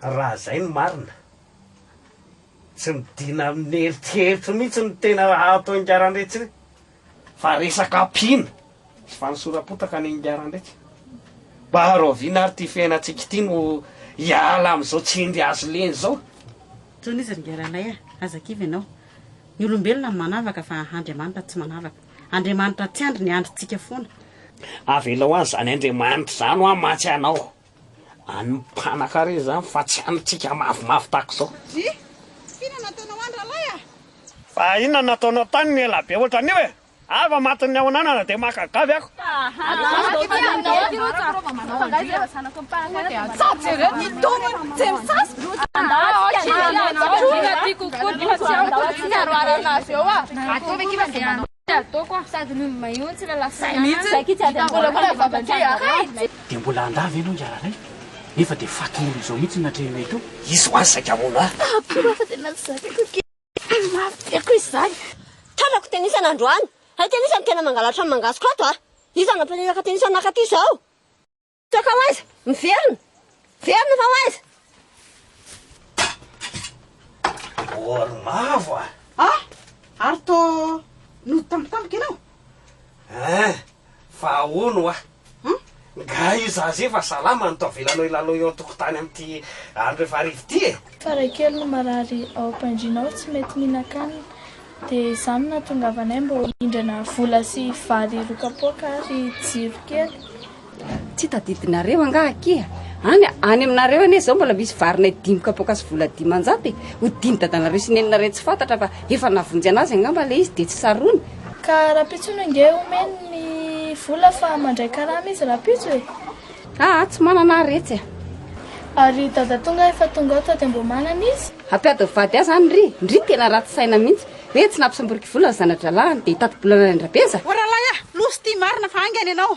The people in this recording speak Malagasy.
Raha izay no marina, tsy midina amin'ny eritreritro mihitsy ny tena atao Ingarandraitsy iny fa resaka ampiana sy fanosoram-potaka ny Ingarandraitsy. Mba rahoviana ary ity fiainantsika ity no hiala amin'izao tsindry hazo lena izao? Intsony izy ry Ingaranay a! Aza kivy ianao. Ny olombelona no manavaka fa Andriamanitra tsy manavaka. Andriamanitra tsy andry ny andrintsika foana. Avelao any zany Andriamanitra zany hoa matsy anao any mpanankarena zany fa tsy antsika mavomavo tahaka zao. Satria, f'inona nataonao any ralahy a? Fa inona nataonao tany ny elabe ohatran'io e? Ava matin'ny ao ananana dia maka gavy aho. Dia mbola handà ve ianao hiara ray? Nefa dia fatin'olona izao mihitsy no natrehinao eto. Izy ho'a saika hamono ahy. Tena mafy be koa izany. Tafiako tenisana androany. Hay tenisany tena mangalatra ny mangatsiko ato a! Iza no nampianaraka tenisany nakaty izao? Toaka ho aiza? Miverina! Miverina fa ho aiza? Bol mavo a! Ah! Ary toa nody tampotampoka ianao? Eh! Fa ahoana hoa? Hum? Nga io zaza io fa salama no to avelanao hilalao eo an-tokotany amin'ity andro rehefa hariva ity e? Fa raha kely no marary ao am-pandriana ao tsy mety mihinan-kanina dia izany no nahatongavanay mba ho hindrana vola sy vary rokapoaka ary jiro kely. Tsy tadidinareo angaha akia? Any any aminareo anie izao mbola misy varinay dimy kapoaka sy vola dimanjato e! Ho diny dadanareo sy neninareo tsy fantatra fa Efa navonjy anazy angamba ilay izy dia tsy sarony. Ka rampitso no nge omeny ny vola fa mandray karama izy rampitso e! Aa tsy manana aho retsy a! Ary dada tonga efa tonga ao tody amboamanana izy. Hampiady ny vady aza any ry ndry tena ratsy saina mihitsy hoe tsy nampisamboriko vola ny zanadralahiny dia hitati-bola any an-dRabeza. Ô ralahy a! Loza ity marina fa haingana ianao.